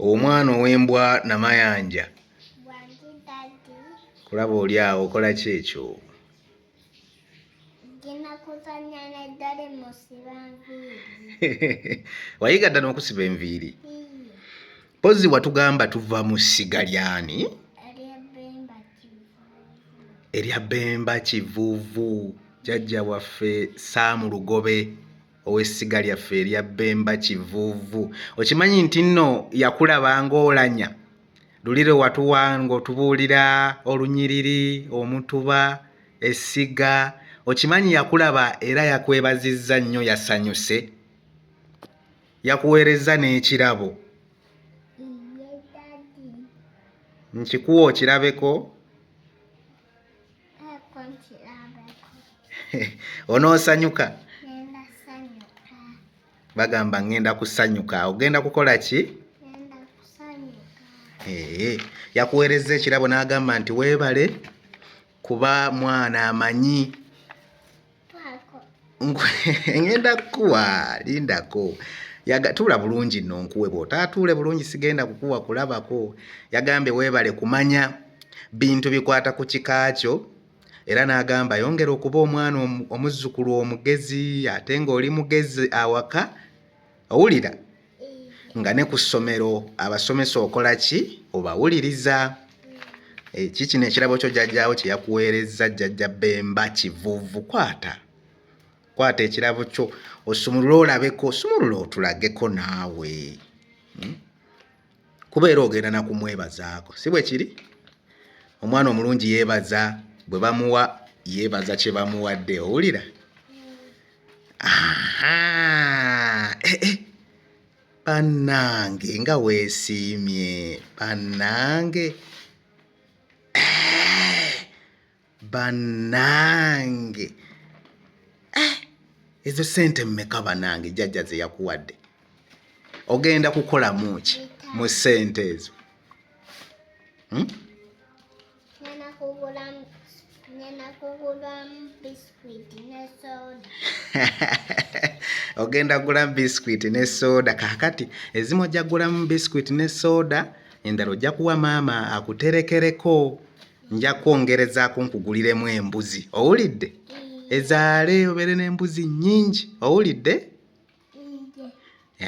omwana ow'embwa namayanja kulaba oli awo okola ki ekyo wayiga ddala okusiba enviiri mpozi watugamba tuva mu ssiga lyani erya bemba kivuuvu jajja waffe saamu lugobe ow'essiga lyaffe erya Bemba Kivuuvu. Okimanyi nti nno yakulaba ng'olanya luli lwe watuwa ng'otubuulira olunyiriri, omutuba, essiga. Okimanyi yakulaba era yakwebazizza nnyo yasanyuse. Yakuweerezza n'ekirabo. Nkikuwa okirabeko. onoosanyuka bagamba ngenda kusanyuka ogenda kukola ki yakuweerezza ekirabo n'agamba nti weebale kuba mwana amanyi ngenda kukuwa lindako tuula bulungi nno nkuwe bw'otaatuule bulungi sigenda kukuwa kulabako yagambye weebale kumanya bintu bikwata ku kika kyo era n'agamba yongera okuba omwana omuzzukulu omugezi ate ng'oli mugezi awaka owulira nga ne ku ssomero abasomesa okola ki obawuliriza eki eh, kino ekirabo kyo jjajjaawo kye yakuweerezza jjajja bemba kivuvu kwata kwata ekirabo kyo osumulule olabeko sumulula otulageko naawe hmm? kuba era ogenda na kumwebazaako si bwe kiri omwana omulungi yeebaza bwe bamuwa yeebaza kye bamuwadde owulira eh, eh. bannange nga weesiimye bannange eh, banange eh, ezo sente mmeka banange jajja zeyakuwadde ogenda kukolamu ki mu sente ezo hmm? ogenda gulamu biscuit ne soda kakati ezimu ojja gulamu biscuit ne soda endala ojja kuwa maama akuterekereko nja kwongerezaako nkuguliremu embuzi owulidde ezaale obeere n'embuzi nnyingi owulidde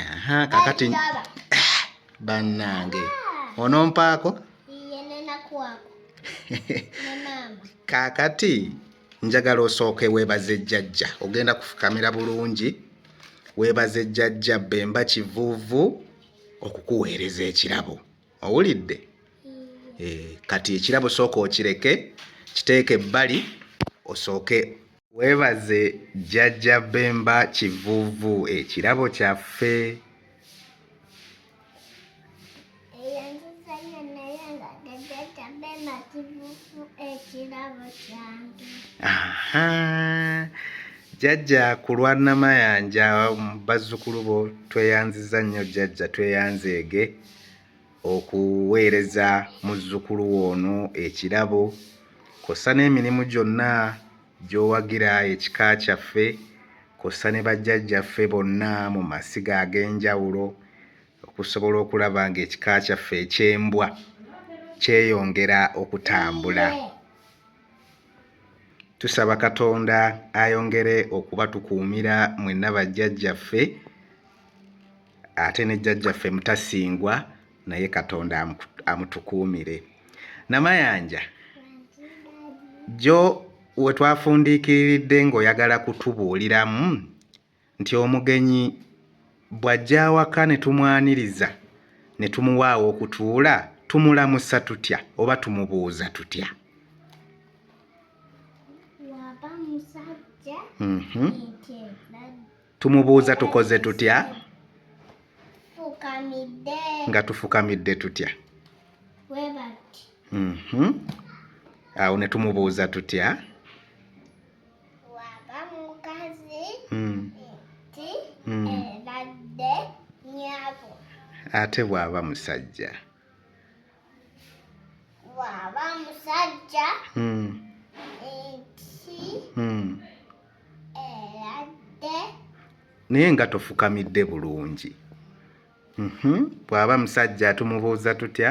aha kakati bannange onompaako kakati njagala osooke weebaze jjajja ogenda kufukamira bulungi weebaze jjajja bemba kivuuvu okukuweereza ekirabo owulidde eh, kati ekirabo sooka okireke kiteeke ebbali osooke webaze jjajja bemba kivuvu ekirabo kyaffe jjajja ku lwa namayanja bazzukulu bo tweyanziza nnyo jjajja tweyanzeege okuweereza muzzukulu wo ono ekirabo kossa n'emirimu gyonna gy'owagira ekika kyaffe kossa ne bajjajjaffe bonna mu masiga ag'enjawulo okusobola okulaba ng'ekika kyaffe eky'embwa kyeyongera okutambula tusaba katonda ayongere okubatukuumira mwenna bajjajjaffe ate ne jjajjaffe mutasingwa naye katonda amutukuumire namayanja jo we twafundiikiriridde ng'oyagala kutubuuliramu nti omugenyi bw'ajja awaka ne tumwaniriza ne tumuwaawo okutuula tumulamusa tutya oba tumubuuza tutya Mm-hmm. Tumubuuza tukoze tutya? Fukamidde. Nga tufukamidde tutya? Webati. Mm -hmm. Awo ne tumubuuza tutya? Waba mukazi. Mm. Ti. Mm. Ebadde nyabo. Ate bwaba musajja. bw'aba musajja hmm. ensi hmm. eradde naye nga tofukamidde bulungi mhm. bw'aba musajja tumubuuza tutya